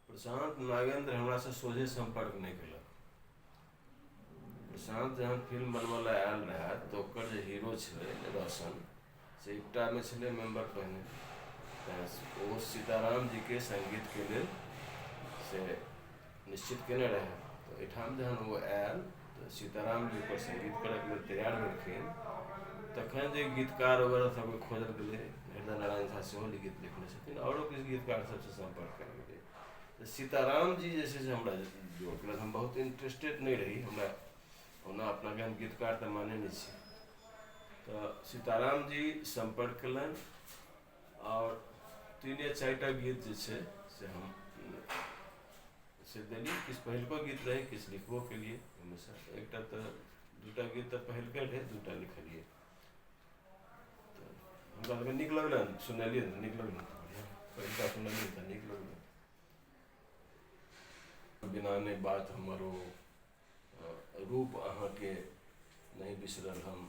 प्रशान्त नागेन्द्र हमरासँ सोझे सम्पर्क नहि केलक प्रशान्त जहन फिल्म बनबै लए आयल रहए तऽ ओकर जे हीरो छलै रोशन से एकटामे छलै मेम्बर पहिने तऽ ओ सीताराम जीके सङ्गीतके लेल से निश्चित केने रहै तऽ एहिठाम जहन ओ आयल तऽ सीताराम जी पर सङ्गीत करैके लेल तैयार भेलखिन तखन जे गीतकार वगैरह सभके खोजल गेलै हृदय नारायण झा सेहो जे गीत लिखने छथिन आओरो किछु गीतकार सभसँ सम्पर्क कयल गेलै तऽ सीताराम जी जे छै से हमरा जोड़लक हम बहुत इंटरेस्टेड नहि रही हमरा ओना अपनाके हम गीतकार तऽ मानै नहि छी तऽ सीताराम जी सम्पर्क कयलनि आओर तीने चारिटा गीत जे छै से हम से देलियै किछु पहिलको गीत रहै किछु लिखबो केलियै ओहिमे से एकटा तऽ दूटा गीत तऽ पहिलके रहै दूटा लिखलियै तऽ हमरा सबके नीक लगलै सुनलियै तऽ नीक लगलै तऽ बढ़िआँ पहिलका सुनलियै तऽ नीक लगलै बिना नहि बात हमर ओ अ, रूप अहाँके नहि बिसरल हम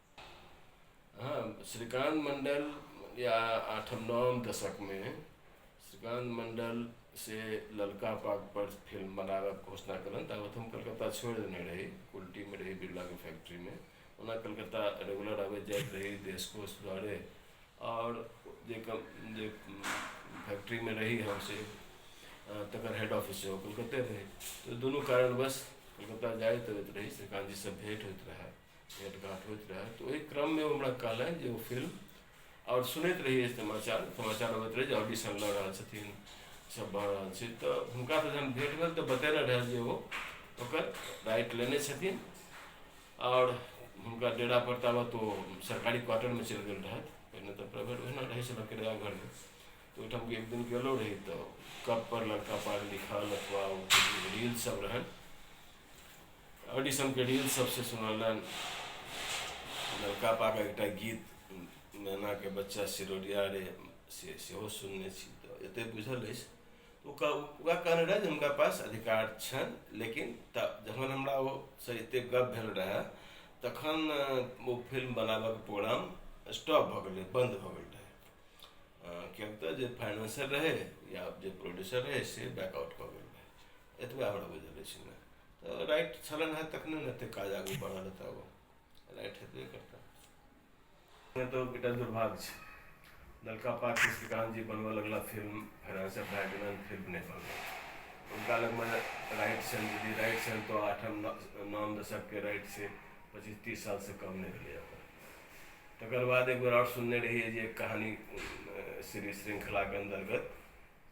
हाँ श्रीकांत मंडल या आठम नवम दशक में श्रीकांत मंडल से ललका पाग पर फिल्म बनाबक घोषणा कलन ताबत हम कलकत्ता छोड़ देने रही उल्टी में रही बिरला के फैक्ट्री में ओना कलकत्ता रेगुलर आबे जाइत रही देश कोष द्वारे और जे कम जे फैक्ट्री में रही हम से अ, तकर हेड ऑफिस सेहो कलकत्ते रही तो दुनू कारणवश कलकत्ता जाइत अबैत रही श्रीकांत जी से भेंट होइत रहए भेटघाट होइत रहए तऽ ओहि क्रममे ओ हमरा कहलनि जे ओ फिल्म आओर सुनैत रहियै समाचार समाचार अबैत रहै जे ऑडिशन लऽ रहल छथिन सब भऽ रहल छै तऽ हुनका तऽ जहन भेट भेल तऽ बतेने रहए जे ओ ओकर राइट लेने छथिन आओर हुनका डेरा पर ताबत ओ सरकारी क्वार्टरमे चलि गेल रहथि पहिने तऽ प्राइवेट ओहिना रहै छलए किराया घरमे तऽ ओहिठाम एक दिन गेलो रही तऽ कप पर लड़का पाग लिखल अथवा ओ रील सब रहनि ऑडिशनके रील सबसे सुनलन लड़का पाके एकटा गीत मैनाके बच्चा सिरोरिया रे से सेहो सुनने छी तऽ एते बुझल अछि ओ कह ओकरा कहने रहए जे हुनका पास अधिकार छनि लेकिन तऽ जखन हमरा ओ से एते गप भेल रहए तखन ओ फिल्म बनाबऽके प्रोग्राम स्टॉप भऽ गेलै बन्द भऽ गेल रहए किएक तऽ जे फाइनेंसर रहै या जे प्रोड्यूसर रहै से बैकआउट कऽ गेल रहै एतबा हमरा बुझल अछि ने तऽ राइट छलन है तखने ने एतेक काज आगू बढ़ल हेतै आब राइट हेतबे करतै नहि तऽ बेटा दुर्भाग्य छै लड़का पाक श्रीकांत जी बनबऽ लगला फिल्म फेरासँ भए गेलन फिल्म नहि बनलै हुनका लगमे राइट छल यदि राइट छल तऽ आठम नाम दशकके राइट से पच्चीस तीस सालसँ कम नहि भेलै अपन तकर बाद एक बेर आओर सुनने रहियै जे कहानी सीरीज श्रृंखलाके अन्तर्गत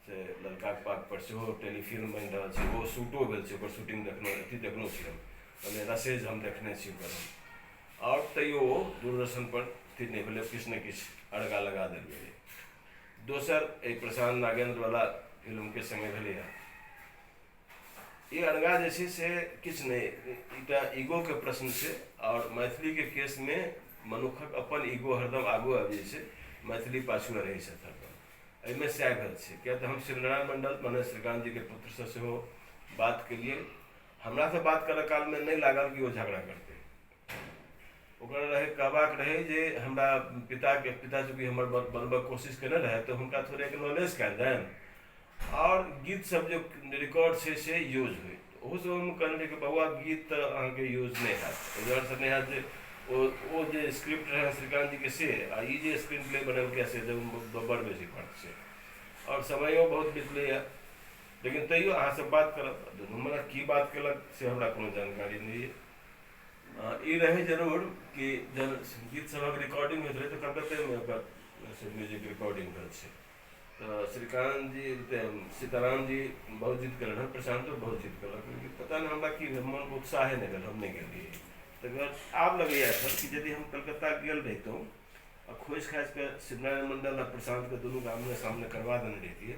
से ललकाके पातपर सेहो टेलीफिल्म बनि रहल छै ओहो शूटो भेल छै ओकर शूटिंग देखलहुँ अथी देखलहुँ छी हम मने रसेज हम देखने छी ओकर हम आओर तैयो ओ दूरदर्शनपर स्थिर नहि भेलै किछु ने किछु अड़गा लगा देल गेलै दोसर एहि प्रशांत नागेन्द्रवला फिल्मके सङ्गे भेलैए ई अड़गा जे छै से किछु नहि एकटा ईगोके प्रश्न छै आओर मैथिलीके केसमे मनुक्खक अपन ईगो हरदम आगू आबि जाइ छै मैथिली पाछुए रहै छथि हरदम एहिमे सएह भेल छै किएक तऽ हम शिवनारायण मण्डल मने श्रीकान्तजीके पुत्रसँ सेहो बात केलिए हमरासँ बात करऽ कालमे नहि लागल कि ओ झगड़ा करतै ओकरा रहै कहबाक रहै जे हमरा पिताके पिता चूँकि हमर बनबैके कोशिश केने रहै तऽ हुनका थोड़े एक्नोलेज कऽ देल आओर गीतसब जे रिकॉर्ड छै से यूज होइ ओहो सब हम कहने रह बौआ गीत तऽ अहाँके यूज नहि हयैत एहि दुआरेसँ नहि हयैत जे ओ ओ जे स्क्रिप्ट रहै श्रीकान्त जीके से आ ई जे स्क्रीन प्ले बनेलकै से बड़ बेसी फर्क छै आओर समयो बहुत बितलैए लेकिन तैयो अहाँसभ बात करब दुनू मने की बात केलक से हमरा कोनो जानकारी नहि यऽ हँ ई रहै जरूर कि जन गीत सभक रिकॉर्डिंग होइत रहै तऽ कलकत्तेमे ओकर म्यूजिक रिकॉर्डिंग भेल छै तो श्रीकांत जी ते सीताराम जी बहुत जिद कलन हन प्रशांत तो बहुत जिद कलन कि पता नहीं हमरा की भेल, मन उत्साह है नगर हम नहीं गेलिए तो अगर आब लगैया सर कि यदि हम कलकत्ता गेल रहितौं आ खोजि खाजि कऽ शिवनारायण मंडल आ प्रशांत के दुनू के आमने सामने करवा देने रहितियै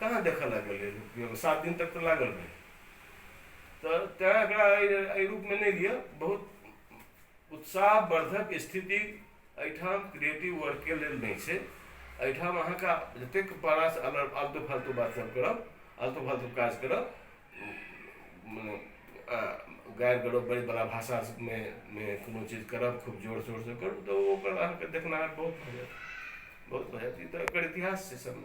कहाँ देखऽ लागल रहै लोक पियऽमे सात दिन तक तऽ लागल रहै तऽ तैँ एकरा अइ अइ रूपमे नहि लिअ बहुत उत्साहवर्द्धक स्थिति अइठाम क्रियेटिव वर्कके लेल नहि छै अइठाम अहाँके जतेक बड़ासँ अल आलतू फालतू बात सब करब आलतू फालतू काज करब मने गारि गरोज बड़ी बला भाषामे मे कोनो चीज करब खूब जोर शोरसँ करू तऽ ओ ओकर अहाँके देखनाहर बहुत भऽ जायत बहुत भऽ जायत ई तऽ एकर इतिहास छै सब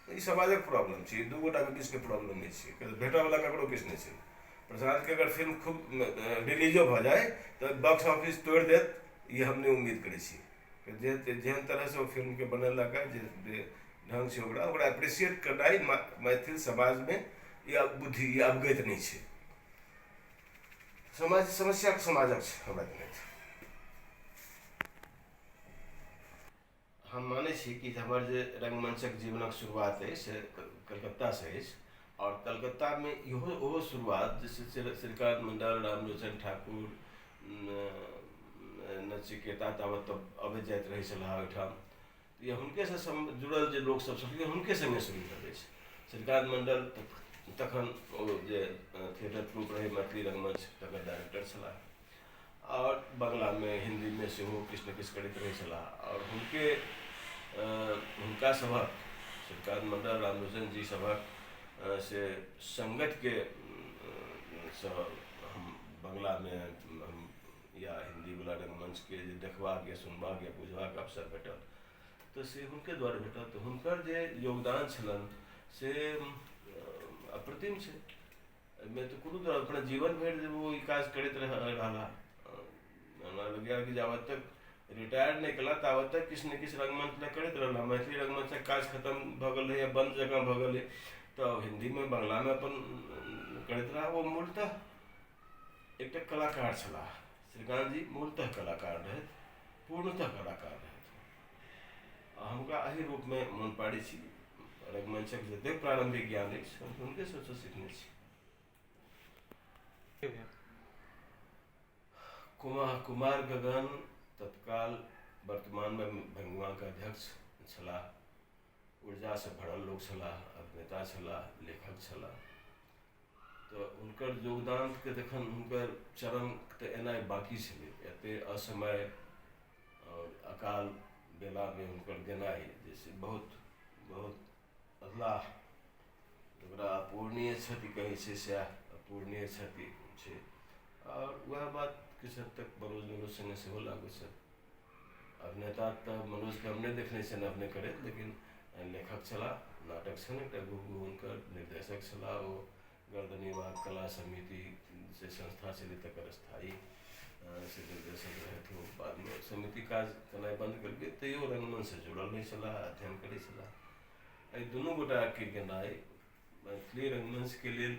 तऽ ई समाजक प्रॉब्लम छै ई दू गोटाके बीचके प्रॉब्लम नहि छै किएक तऽ भेटऽ बला ककरो किछु नहि छै प्रशासनके अगर फिल्म खूब रिलीजो भऽ जाइ तऽ बॉक्स ऑफिस तोड़ि देत ई हम नहि उम्मीद करै छी जेहन तरह से ओ फिल्मके बनेलक हँ जे ढंग से ओकरा ओकरा एप्रिसिएट करनाइ मैथिल समाजमे ई बुद्धि ई अवगति नहि छै समाज समस्या समाजक छै हमरा जनैत हम मानै छी कि हमर जे रङ्गमञ्चक जीवनक शुरुआत अछि से कलकत्तासँ अछि आओर कलकत्तामे इहो ओहो शुरुआत जे छै से श्रीकान्त मण्डल रामलोचन ठाकुर नचिकेता तावत तऽ अबैत जाइत रहै छलाह हँ ओहिठाम या हुनकेसँ सम जुड़ल जे लोकसभ छलखिन हुनके सङ्गे शुरू भेल अछि श्रीकान्त मण्डल तखन ओ जे थिएटर ट्रूप रहै मैथिली रङ्गमञ्च तकर डाइरेक्टर छलाह आओर बंगलामे हिन्दीमे सेहो किछु ने किछु करैत रहै छलाह आओर हुनके हुनका सभक श्रीकान्त मण्डल रामलोचन जी सभक से सङ्गतके सँ हम बंगलामे हम या हिन्दीवला रङ्गमञ्चके जे देखबाक या सुनबाक या बुझबाक अवसर भेटल तऽ से हुनके दुआरे भेटल तऽ हुनकर जे योगदान छलनि से अप्रतिम छै एहिमे तऽ कोनो तरह अपना जीवन भरि जे ओ ई काज करैत रह रहला हमरा लगैए कि जाबत तक रिटायर नहि केला ताबत तक किछु ने किछु रंगमंच लए करैत रहला मैथिली रंगमंचक काज खतम भऽ गेल रहैए बन्द जकाँ भऽ गेलै तऽ हिन्दीमे बंगलामे अपन करैत रहला ओ मूलतः एकटा कलाकार छलाह श्रीकान्तजी मूलतः कलाकार रहथि पूर्णतः कलाकार रहथि आ हम ओकरा एहि रूपमे मन पाड़ै छी रघुमंशक जतेक प्रारंभिक ज्ञान अछि हम हुनके सबसँ सीखने छी कुमार कुमार गगन तत्काल वर्तमानमे भंगवाक अध्यक्ष छलाह ऊर्जासँ भरल लोक छलाह अभिनेता छलाह लेखक छलाह तऽ हुनकर योगदानके जखन हुनकर चरण तऽ एनाइ बाँकी छलै एते असमय आओर अकाल बेलामे हुनकर गेनाइ जे छै बहुत बहुत अधलाह जकरा अपूर्णीय क्षति कहै छै सएह अपूर्णीय क्षति छै आओर वएह बात किछु हद तक मनोजजीके सङ्गे सेहो लागू छथि अभिनेता तऽ मनोजकेँ हम नहि देखने छिअनि अभिनय करैत लेकिन लेखक छलाह नाटक छनि एकटा गुग्गू हुनकर निर्देशक छलाह ओ गर्दनी बाघ कला समिति जे संस्था छलै तकर स्थायी से निर्देशक रहथि ओ बादमे ओ समिति काज केनाइ बन्द केलकै तैओ रङ्गमञ्चसँ जुड़ल रहै छलाह अध्ययन करै छलाह एहि दुनू गोटाके गेनाइ मैथिली रङ्गमञ्चके लेल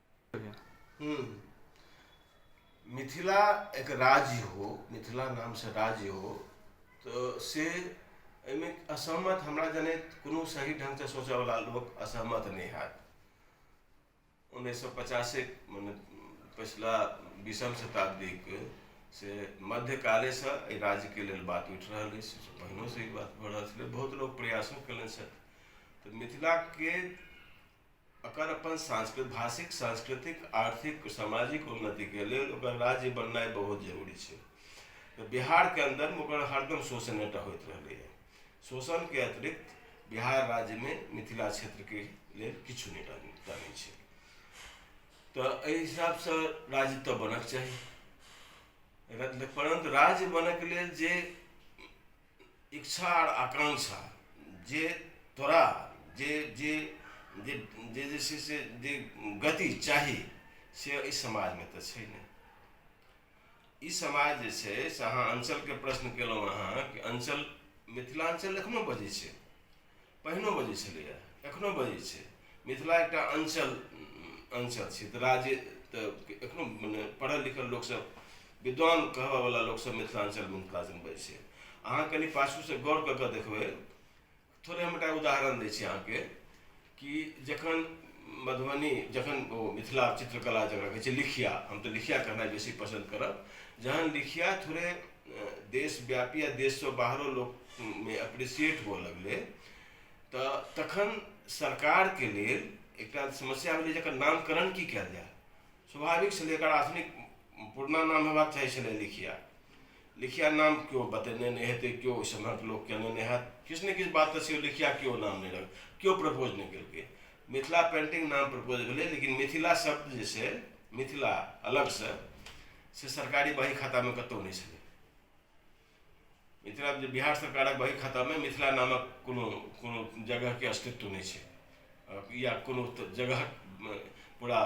हम्म। मिथिला एक राज्य हो मिथिला नाम से राज्य हो तो से एहिमे असहमत हमरा जने कोनो सही ढंग से सोचय वाला लोग असहमत नहि हैत उन्नैस सए पचासे मने पछिला बीसम शताब्दीक से मध्यकाले से एहि राज्य के लेल बात उठि रहल अछि से पहिनो से ई बात भऽ रहल छलै बहुत लोग प्रयासो कयलनि छथि तऽ मिथिला के एकर अपन सांस्कृत भाषिक सांस्कृतिक आर्थिक सामाजिक उन्नतिके लेल ओकर राज्य बननाइ बहुत जरूरी छै तऽ बिहारके अन्दरमे ओकर हरदम शोषणेटा होइत रहलैए शोषणके अतिरिक्त बिहार राज्यमे मिथिला क्षेत्रके लेल किछु नहि रहलै टा नहि छै तऽ एहि हिसाबसँ राज्य तऽ बनक चाही परन्तु राज्य बनक लेल जे इच्छा आओर आकांक्षा जे तोरा जे जे जे जे जे छै से जे गति चाही से एहि समाजमे तऽ छै नहि ई समाज जे छै से अहाँ अञ्चलके प्रश्न कयलहुँ अहाँ कि अञ्चल मिथिलाञ्चल एखनहु बजै छै पहिनो बजै छलैए एखनो बजै छै मिथिला एकटा अञ्चल अञ्चल छै तऽ राज्य तऽ एखनो मने पढ़ल लिखल लोकसभ विद्वान कहबयवला लोकसभ मिथिलाञ्चल मिथिलाञ्चल बजै छै अहाँ कनि पाछूसँ गौर कऽ कऽ देखबै थोड़े हम एकटा उदाहरण दै छी अहाँके कि जखन मधुबनी जखन ओ मिथिला चित्रकला जकरा कहै छै लिखिया हम तऽ लिखिया कहनाइ बेसी पसन्द करब जहन लिखिया थोड़े देशव्यापी आ देशसँ बाहरो लोकमे अप्रिसिएट हुअ लगलै तऽ तखन सरकारके लेल एकटा समस्या भेलै जकर नामकरण की कयल जाय स्वाभाविक छलै एकर आधुनिक पुरना नाम होयबाक चाही छलै लिखिया लिखिया नाम केओ बतेने नहि हेतै केओ ओहि समयक लोक केने नहि हैत किछु ने किछु बात तऽ छै लिखिया केओ नाम नहि रख केओ प्रपोज नहि केलकै मिथिला पेन्टिंग नाम प्रपोज भेलै लेकिन मिथिला शब्द जे छै मिथिला अलगसँ से सरकारी बही खातामे कतहु नहि छलै मिथिला जे बिहार सरकारक बही खातामे मिथिला नामक कोनो कोनो जगहके अस्तित्व नहि छै या कोनो जगह पूरा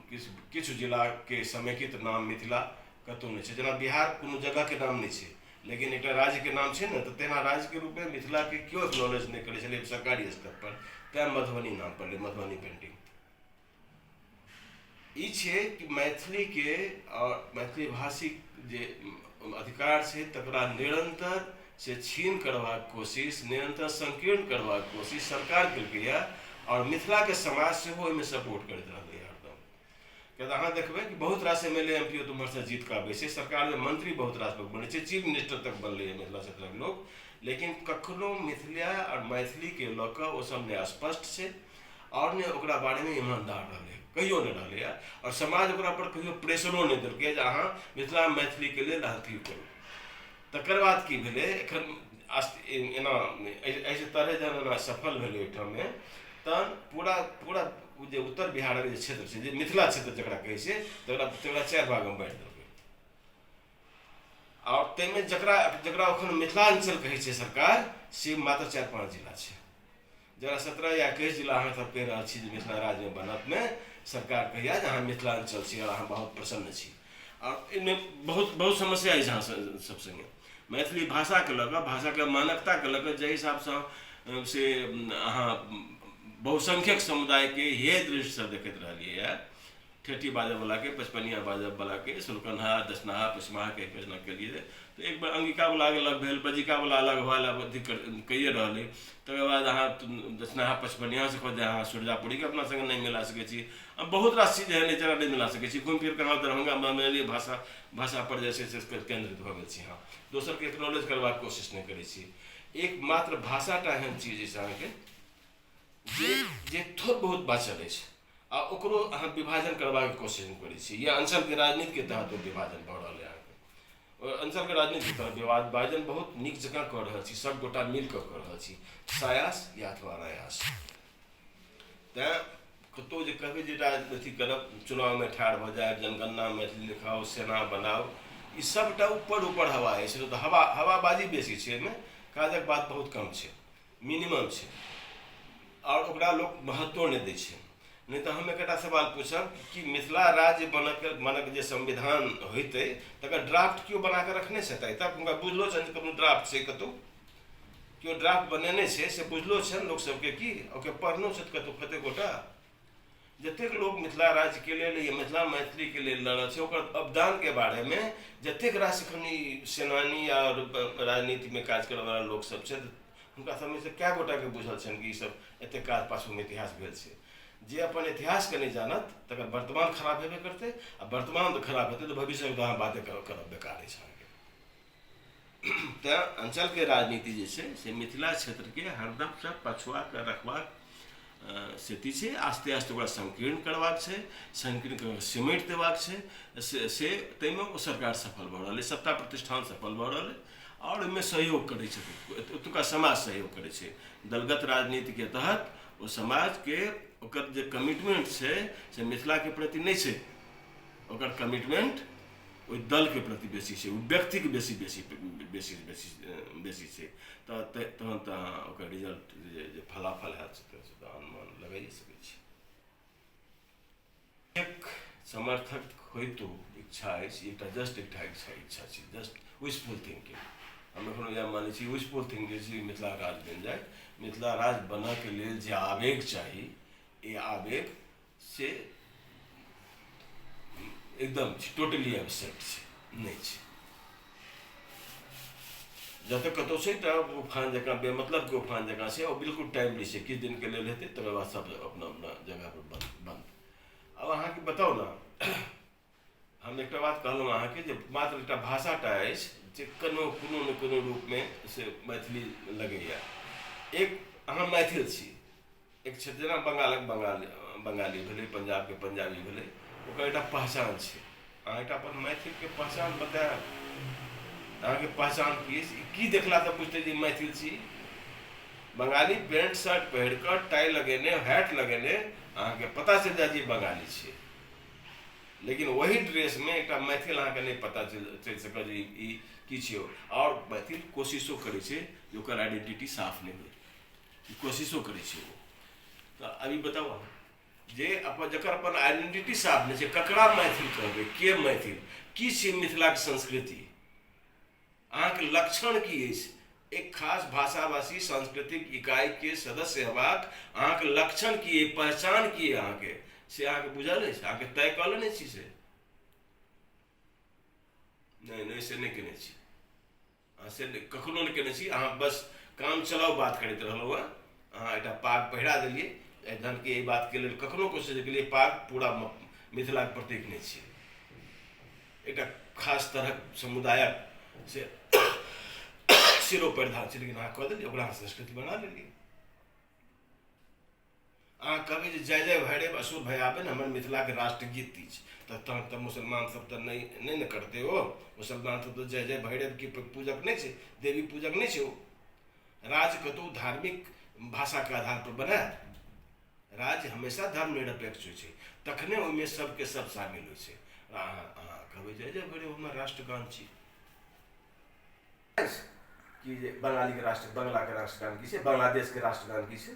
किछु किछु जिलाके समेकित नाम मिथिला कतहु नहि छै जेना बिहार कोनो जगहके नाम नहि छै लेकिन एकटा राज्यके नाम छै ने तऽ तेना राज्यके रूपमे मिथिलाके केओ एक्नॉलेज नहि करै छलै सरकारी स्तरपर तैँ मधुबनी नाम पड़लै मधुबनी पेन्टिंग ई छै कि मैथिलीके आओर मैथिली भाषीक जे अधिकार छै तकरा निरन्तर से छीन करबाक कोशिश निरन्तर संकीर्ण करबाक कोशिश सरकार केलकै यऽ आओर मिथिलाके समाज सेहो ओहिमे सपोर्ट करैत रहलै हरदम किएक तऽ अहाँ देखबै कि बहुत रास M L A M P ओ तऽ ओम्हरसँ जीतकऽ अबै छै सरकारमे मंत्री बहुत रास लोक बनै छै चीफ मिनिस्टर तक बनलैए मिथिला क्षेत्रक लोक लेकिन कखनो मिथिला आओर मैथिलीके लऽ कऽ ओसभ ने स्पष्ट छै आओर ने ओकरा बारेमे ईमानदार रहलै हँ कहियो नहि रहलै हँ आओर समाज ओकरा पर कहियो प्रेसरो नहि देलकै जे अहाँ मिथिला मैथिलीके लेल अथी करू तकर बाद की भेलै एखन एना एहि तरहे जहन एना सफल भेलै एहिठाममे तहन पूरा पूरा ओ जे उत्तर बिहारक जे क्षेत्र छै जे मिथिला क्षेत्र जकरा कहै छै तकरा तकरा चारि भागमे बाँटि देलकै आओर ताहिमे जकरा जकरा एखन मिथिलाञ्चल कहै छै सरकार से मात्र चारि पाँच जिला छै जकरा सत्रह या एकैस जिला अहाँ सब कहि रहल छी जे मिथिला राज्यमे बनत नहि सरकार कहैया जे अहाँ मिथिलाञ्चल छी आओर अहाँ बहुत प्रसन्न छी आओर एहिमे बहुत बहुत समस्या अछि अहाँ सब सङ्गे मैथिली भाषाके लऽ कऽ भाषाके मानकताके लऽ कऽ जाहि हिसाबसँ से अहाँ बहुसंख्यक समुदायके हेय दृष्टिसँ देखैत रहलियै यऽ ठेठी बाजब वाला के पचपनिया बाजब वाला के सुलकनहा दसनहा पचमाहा के प्रश्न के लिए तो एक बार अंगिका वाला के अलग भेल बजिका वाला अलग हुआ अलग अथी कर कहिए रहल है तकर बाद अहाँ दसनहा पचपनिया से खोज अहाँ सुरजापुरी के अपना संगे नहीं मिला सके छी अब बहुत रास चीज एहन है जरा नहीं मिला सके छी घूम फिर के अहाँ दरभंगा मैथिली भाषा भाषा पर जे छै से केंद्रित भऽ गेल छी अहाँ दोसर के एक्नोलेज करबाक कोशिश नहीं करै छी एकमात्र भाषाटा एहन चीज अछि अहाँके जे जे थोड़ बहुत बाँचल अछि आ ओकरो अहाँ विभाजन करबाक कोशिश हम करै छी या अंचलके राजनीतिके तहत ओ विभाजन भऽ रहल है अहाँके ओ अंचलके राजनीतिके तहत विवाद विभाजन बहुत नीक जकाँ कऽ रहल छी सब गोटा मिल कऽ कऽ रहल छी सायास या अथवा अनायास तैँ कतहु जे कहबै जे राज अथी करब चुनावमे ठाढ़ भऽ जायब जनगणना मैथिली लिखाउ सेना बनाउ ई सबटा ऊपर ऊपर हवा अछि तऽ हवा हवाबाजी बेसी छै एहिमे काजक बात बहुत कम छै मिनिमम छै आओर ओकरा लोक महत्वो नहि दै छै नहि तऽ हम एकटा सवाल पूछब कि मिथिला राज्य बनक बनक जे संविधान होइतै तकर ड्राफ्ट केओ बना कऽ रखने छथि तब हुनका बुझलो छनि कोनो ड्राफ्ट छै कतहु केओ ड्राफ्ट बनेने छै से बुझलो छनि लोकसभके की ओके पढ़नो छथि कतहु कतेक गोटा जतेक लोक मिथिला राज्यके लेल या मिथिला मैथिलीके लेल लड़ल छै ओकर अवदानके बारेमे जतेक रास एखन सेनानी आओर राजनीतिमे काज करैवला लोकसब छथि हुनका सबमे से कए गोटाके बुझल छनि कि ईसब एतेक काज पाछूमे इतिहास भेल छै जे अपन इतिहासके नहि जानत तकर वर्तमान खराब हेबे करतै आओर वर्तमान खराब हेतै तऽ भविष्यके तऽ अहाँ बाते करब बेकारे छै अहाँके तैँ अञ्चलके राजनीति जे छै से मिथिला क्षेत्रके हरदमसँ पछुआ कऽ रखबाक स्थिति छै आस्ते आस्ते ओकरा संकीर्ण करबाक छै संकीर्ण कऽ सिमटि देबाक छै से से ताहिमे ओ सरकार सफल भऽ रहल अइ सत्ता प्रतिष्ठान सफल भऽ रहल अइ आओर ओहिमे सहयोग करै छथिन ओतुका समाज सहयोग करै छै दलगत राजनीतिके तहत ओ समाजके ओकर जे कमिटमेंट छै से मिथिलाके प्रति नहि छै ओकर कमिटमेंट ओहि दलके प्रति बेसी छै ओ व्यक्तिके बेसी बेसी बेसी बेसी बेसी छै तऽ तहन तऽ अहाँ ओकर रिजल्ट जे जे फलाफल हैत से तऽ अनुमान लगाइए सकै छी एक समर्थक होइतो इच्छा अछि एकटा जस्ट एकटा इच्छा इच्छा छै जस्ट विशफुल थिंकिंग हम एखनो इएह मानै छी विशफुल थिंकिंग जे मिथिला राज बनि जाए मिथिला राज बनऽके लेल जे आवेग चाही ई आवेग से एकदम छै टोटली एबसेंट छै नहि छै जतऽ कतौ छै एकटा उफान जकाँ बेमतलबके उफान जकाँ छै आओर बिल्कुल टाइमली छै किछु दिनके लेल हेतै तकर बाद सब अपना अपना जगहपर बन्द बन्द आब अहाँके बताउ ने हम एकटा बात कहलहुँ अहाँके जे मात्र एकटा भाषाटा अछि जे कोनो कोनो ने कोनो रूपमे से मैथिली लगैए एक अहाँ मैथिल छी एक क्षेत्र जेना बंगालक बंगाल बंगाली भेलै पंजाबके पंजाबी भेलै ओकर एकटा पहचान छै अहाँ एकटा अपन मैथिलके पहचान बतायब अहाँके पहचान की अछि की देखला तऽ बुझतै जे मैथिल छी बंगाली पेंट शर्ट पहिर कऽ टाई लगेने हैट लगेने अहाँके पता चलि जायत जे बंगाली छियै लेकिन वही ड्रेस में एक मैथिल अहाँ के नहीं पता चल सक कि छो और मैथिल कोशिशो करे छे जो कर आइडेंटिटी साफ नहीं हो कोशिशो करे छे वो तो अभी बताओ अहाँ जे अपन जकर अपन आइडेंटिटी साफ नहीं छे ककरा मैथिल कहबे के मैथिल की छे मिथिला के संस्कृति अहाँक लक्षण की अछि? एक खास भाषाभाषी सांस्कृतिक इकाई के सदस्य हेबाक अहाँक लक्षण की अइ पहचान की अइ अहाँके से अहाँके बुझल अछि अहाँके तय कऽ लेने छी से नहि नहि से नहि केने छी अहाँ से कखनो नहि केने छी अहाँ बस काम चलाउ बात करैत रहलहुँ हँ अहाँ एकटा पाग पहिरा देलियै जहन कि एहि बातके लेल कखनो कोशिश नहि केलियै पाग पूरा मिथिलाके प्रतीक नहि छियै एकटा खास तरहक समुदायक से सिरो परिधान छै लेकिन अहाँ कऽ देलियै ओकरा अहाँ संस्कृति बना लेलियै अहाँ कहबै जे जय जय भैरव असुर भय आबे ने हमर मिथिलाके राष्ट्रगीत अछि तऽ तहन तऽ मुसलमान सब तऽ नहि नहि ने करतै ओ मुसलमान सब तऽ जय जय भैरवके पूजक नहि छै देवी पूजक नहि छै ओ राज्यके तऽ ओ धार्मिक भाषाके आधारपर बनाएत राज्य हमेशा धर्म निरपेक्ष होइ छै तखने ओहिमे सबके सब शामिल होइ छै अहाँ अहाँ कहबै जे जय भैरव हमर राष्ट्रगान छी कि जे बंगालीके राष्ट्र बंगलाके राष्ट्रगान की छै बांग्लादेशके राष्ट्रगान की छै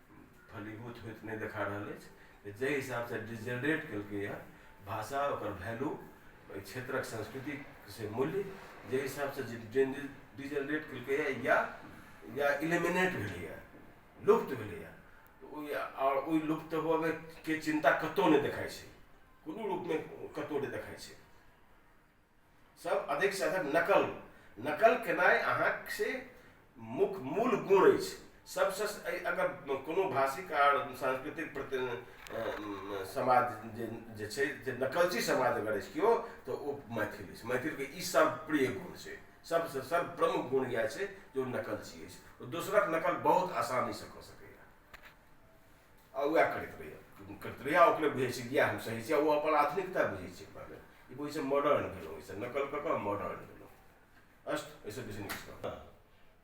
फलीभूत होइत नहि देखा रहल अछि जे जाहि हिसाबसँ डिजेनरेट केलकैए भाषा ओकर वैल्यू एहि क्षेत्रक संस्कृति से मूल्य जाहि हिसाबसँ डिजेनरेट केलकैए या या इलिमिनेट भेलैए लुप्त भेलैए ओहि आओर ओहि लुप्त होबयके चिन्ता कतहु नहि देखाइ छै कोनो रूपमे कतहु नहि देखाइ छै सब अधिक से अधिक नकल नकल केनाइ अहाँक से मुख मूल गुण अछि सबसे अगर कोनो भाषिक आर सांस्कृतिक प्रति समाज जे जे छै जे नकलची समाज अगर अछि केओ तऽ ओ मैथिल अछि मैथिलके ई सब प्रिय गुण छै सबसे सब प्रमुख गुण इएह छै जे ओ नकलची अछि ओ दोसरक नकल बहुत आसानी से कऽ सकैया आ उएह करैत रहैए करैत रहैए आ ओकरे बुझै छै इएह हम सही छी आ ओ अपन आधुनिकता बुझै छै पहिले ई बुझै छै मॉडर्न भेलहुँ ओहिसँ नकल कऽ कऽ मॉडर्न भेलहुँ अस्त एहिसँ बेसी नीक छै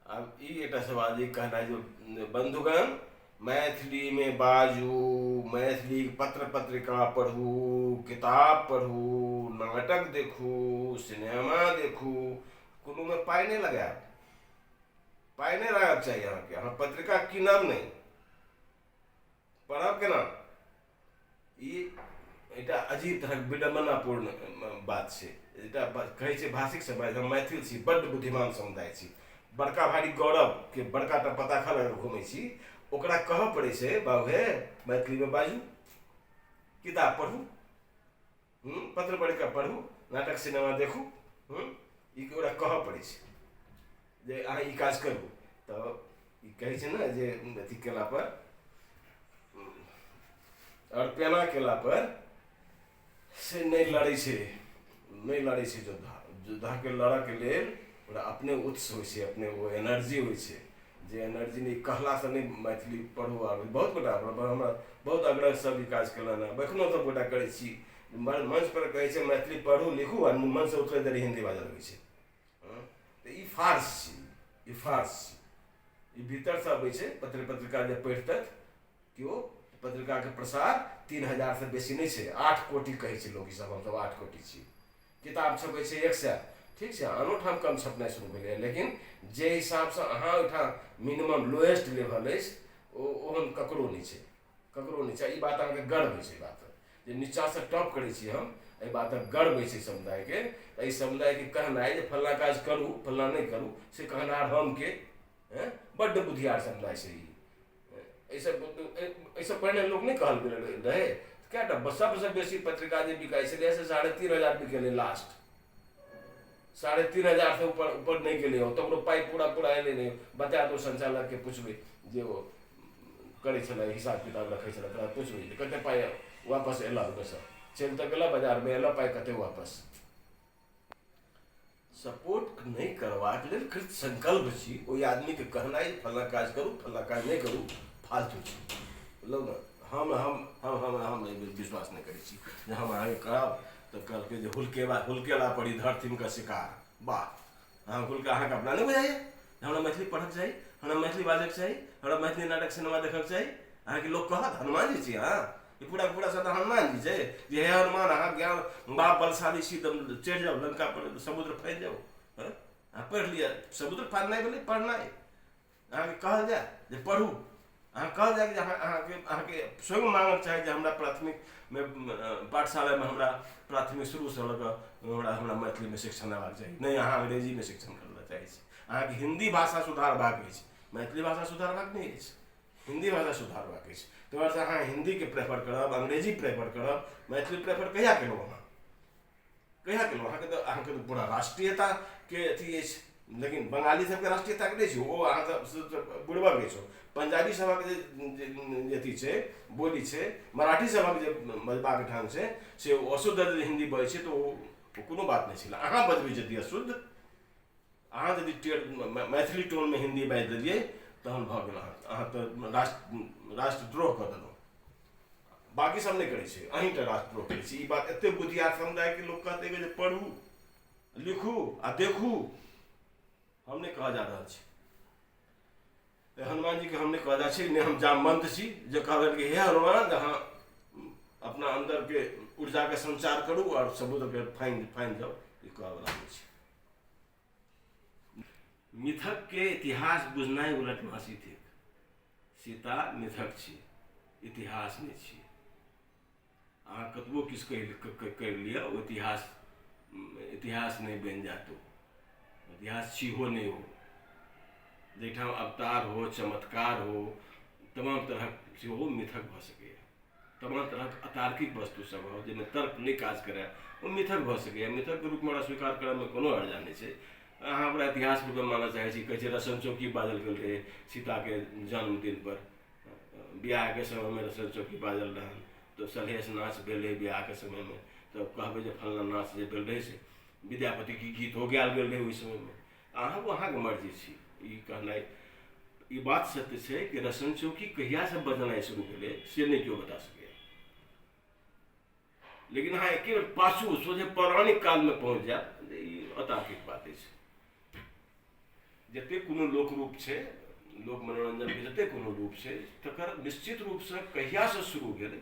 आब ई एकटा सवाल जे कहनाइ जे बन्धुगण मैथिलीमे बाजू मैथिली पत्र पत्रिका पढ़ू किताब पढ़ू नाटक देखू सिनेमा देखू कोनोमे पाइ नहि लगायब पाइ नहि रहक चाही अहाँके अहाँ पत्रिका कीनब नहि पढ़ब केना ई एकटा अजीब तरहक विडम्बनापूर्ण बात छै एकटा कहै छै भाषिक समाज हम मैथिल छी बड्ड बुद्धिमान समुदाय छी बड़का भारी गौरवके बड़का टा पताखा लऽ कऽ घूमै छी ओकरा कहऽ पड़ै छै बाबू हे मैथिलीमे बाजू किताब पढ़ू हूँ पत्र पढ़िकऽ पढ़ू नाटक सिनेमा देखू हूँ ई ओकरा कहऽ पड़ै छै जे अहाँ ई काज करू तऽ ई कहै छै ने जे अथी कयलापर आओर पेना कयलापर से नहि लड़ै छै नहि लड़ै छै योद्धा योद्धाके लड़ऽके लेल ओकरा अपने उत्स होइ छै अपने ओ एनर्जी होइ छै जे एनर्जी नहि कहलासँ नहि मैथिली पढ़ू आब बहुत गोटा हमरा बहुत आग्रह सब ई काज केलनि हँ एखनो सब गोटा करै छी मंच पर कहै छै मैथिली पढ़ू लिखू आ मन से उतरे देरी हिंदी बाजऽ लगै छै तऽ ई फार्स छी ई फार्स छी ई भीतरसँ अबै छै पत्र पत्रिका जे पढ़ितथि केओ पत्रिकाके प्रसार तीन हजारसँ बेसी नहि छै आठ कोटि कहै छै लोक ईसभ हमसभ आठ कोटि छी किताब छपै छै एक सए ठीक छै आनो ठाम कम छपनाइ शुरू भेलैए लेकिन जे हिसाबसँ अहाँ ओहिठाम मिनिमम लोएस्ट लेवल अछि ओ ओहन ककरो नहि छै ककरो नहि छै ई बात अहाँके गर्व होइ छै बात जे नीचाँसँ टॉप करै छी हम एहि बातक गर्व होइ छै समुदायके एहि समुदायके कहनाइ जे फल्लाँ काज करू फल्लाँ नहि करू से कहनार हम के बड्ड बुधियार समुदाय छै ई एहिसँ एहिसँ पहिने लोक नहि कहल गेल रहै कए टा सभसँ बेसी पत्रिका जे बिकाइ छलै से साढ़े तीन हजार बिकेलै लास्ट साढ़े तीन हजारसँ ऊपर ऊपर नहि गेलै ओ तकरो पाइ पूरा पूरा अयलै नहि बता दू सञ्चालककेँ पुछबै जे ओ करै छलै हिसाब किताब रखै छलै तोरा पुछबै जे कतेक पाइ वापस अयलह ओहिमेसँ चलि तऽ गेलह बाजारमे अयलह पाइ कतेक वापस सपोर्ट नहि करबाक लेल कृत संकल्प छी ओहि आदमीके कहनाइ फल्ला काज करू फल्ला काज नहि करू फालतू छी बुझलहुँ ने हम हम हम हम हम एहि बेर विश्वास नहि करै छी जे हम अहाँके करब तऽ कहलकै जे हुलकेबा हुलकेला पड़ी धरतीम का शिकार वाह अहाँ खुलके अहाँके अपना नहि बुझाइए हमरा मैथिली पढ़क चाही हमरा मैथिली बाजक चाही हमरा मैथिली नाटक सिनेमा देखक चाही अहाँके लोक कहत हनुमान जी छी अहाँ ई पूरा पूरा सदा हनुमान जी छै जे हे हनुमान अहाँ ज्ञान बाप बलशाली छी तऽ चढ़ि जाउ लंका पर समुद्र फैल जाउ अहाँ पढ़ि लिअ समुद्र पार नहि भेलै पढ़नाइ अहाँके कहल जाय जे पढ़ू अहाँ कहल जाय जे अहाँ अहाँके अहाँके स्वयं माँगक चाही जे हमरा प्राथमिकमे पाठशालामे हमरा प्राथमिक शुरूसँ लऽ कऽ हमरा हमरा मैथिलीमे शिक्षण देबाक चाही नहि अहाँ अंग्रेजीमे शिक्षण करबा चाहै छी अहाँके हिन्दी भाषा सुधारबाक अछि मैथिली भाषा सुधारबाक नहि अछि हिन्दी भाषा सुधारबाक अछि ताहि दुआरे अहाँ हिन्दीके प्रेफर करब अंग्रेजी प्रेफर करब मैथिली प्रेफर कहिया केलहुँ अहाँ कहिया केलहुँ अहाँके तऽ अहाँके तऽ पूरा राष्ट्रीयताके अथी अछि लेकिन बंगाली सबके राष्ट्रीयताके नहि छै ओ अहाँ सब बुड़बक अछि पंजाबी सभक जे अथी छै बोली छै मराठी सभक जे बजबाक ढङ्ग छै से ओ अशुद्ध हिन्दी बजै छै तऽ ओ कोनो बात नहि छलै अहाँ बजबै यदि अशुद्ध अहाँ यदि टेढ़ मै- मैथिली टोनमे हिन्दी बाजि देलियै तहन भऽ गेल अहाँ अहाँ तऽ राष्ट्र राष्ट्रद्रोह कऽ देलहुँ बाकी सब नहि करै छै अहीं टा राष्ट्रद्रोह करै छी ई बात एते बुद्धियार समुदायके लोक कहतै जे पढ़ू लिखू आ देखू हम नहि कहऽ जा रहल छी ए, हनुमान जी के हम नहि कहऽ जा छी नहि हम जामवंत छी जे कहलनि कि हे हनुमान जे अहाँ अपना अन्दरके ऊर्जाके संचार करू आओर समुद्रके फाइन फाइन जाउ ई कहऽवला नहि छै मिथक के इतिहास बुझनाइ उलट मासी थिक सीता मिथक छी इतिहास नहि छी अहाँ कतबो किछु कहि करि लिअ ओ इतिहास इतिहास नहि बनि जायत ओ इतिहास छीहो नहि हो जाहिठाम अवतार हो चमत्कार हो तमाम तरहक सेहो मिथक भऽ सकैए तमाम तरहक अतार्किक वस्तु सब हो जाहिमे तर्क नहि काज करय ओ मिथक भऽ सकैए मिथकके रूपमे ओकरा स्वीकार करयमे कोनो हर्जा नहि छै अहाँ ओकरा इतिहास रूपमे मानय चाहै छी कहै छै रसन चौकी बाजल गेल रहै सीताके जन्मदिन पर बियाहके समयमे रसन चौकी बाजल रहन तऽ सलहेस नाच भेल रहै बियाहके समयमे तऽ कहबै जे फलना नाच जे भेल रहै से विद्यापतिके गीतो गायल गेल रहै ओहि समयमे अहाँ अहाँके मर्जी छी ई कहनाइ ई बात सत्य छै कि रसन चौकी कहियासँ बजनाइ शुरू भेलै से नहि केओ बता सकैए लेकिन अहाँ एके बेर पाछू सोझे पौराणिक कालमे पहुँच जायब तऽ ई अतार्किक बात अछि जतेक कोनो लोक रूप छै लोक मनोरञ्जनके जतेक कोनो रूप छै तकर निश्चित रूपसँ कहियासँ शुरू भेलै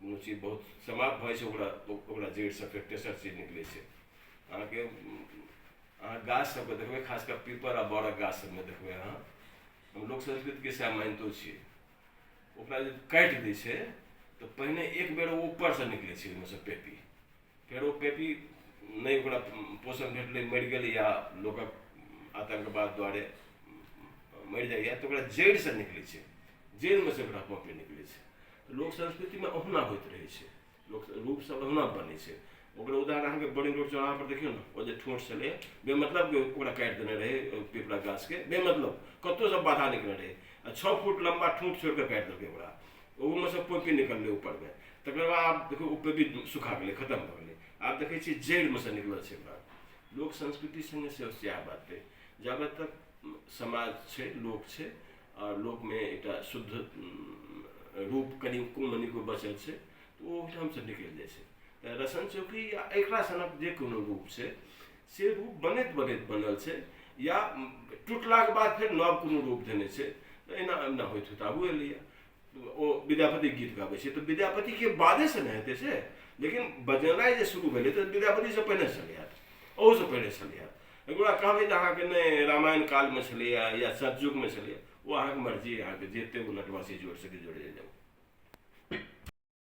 कोनो चीज बहुत समाप्त भऽ जाइ छै ओकरा ओकरा जड़िसँ फेर तेसर चीज निकलै छै अहाँके अहाँ गाछ सबके देखबै खास कऽ पीपर आ बड़क गाछ सबमे देखबै अहाँ हम लोक संस्कृतिके सएह मानितो छियै ओकरा जे काटि दै छै तऽ पहिने एक बेर ओ ऊपरसँ निकलै छै ओहिमेसँ पेपी फेरो पेपी नहि ओकरा पोषण भेटलै मरि गेलै या लोकक आतंकवाद द्वारे मरि जाइए तऽ ओकरा जड़िसँ निकलै छै जड़िमे से ओकरा पॉपे निकलै छै तऽ लोक संस्कृतिमे ओहुना होइत रहै छै लोक रूपसभ ओहुना बनै छै ओकर उदाहरण अहाँके बड़ी रोड चौराहापर देखियौ ने ओ जे ठोंठ छलै बेमतलब के ओकरा काटि देने रहै पिपरा गाछके बेमतलब कतहुसँ बाधा निकलने रहै आ छओ फुट लम्बा ठूँठ छोड़ि कऽ काटि देलकै ओकरा ओहूमे से पोकि निकललै ऊपरमे तकर बाद आब देखियौ ओ पेपी सुखा गेलै खतम भऽ गेलै आब देखै छियै जड़िमे से निकलल छै बात लोक संस्कृति सङ्गे सेहो सएह बात अइ जाबे तक समाज छै लोक छै आओर लोकमे एकटा शुद्ध रूप कनि कोन मनिको बचल छै तऽ ओ ओहिठामसँ निकलि जाइ छै तऽ रसन चौकी या एकरा सनक जे कोनो रूप छै से रूप बनैत बनैत बनल छै या टुटलाके बाद फेर नव कोनो रूप देने छै तऽ एना एना होइत होइत आगू एलैए ओ विद्यापति गीत गाबै छै तऽ विद्यापतिके बादेसँ ने हेतै से लेकिन बजेनाइ जे शुरू भेलै तऽ विद्यापतिसँ पहिने छलै हँ ओहूसँ पहिने छलै हँ एकरा कहबै जे अहाँके नहि रामायण कालमे छलैए या सतयुगमे छलैए ओ अहाँके मर्जी अहाँके जतेक ओ नटवासी जोड़ि सकै जोड़ि जाउ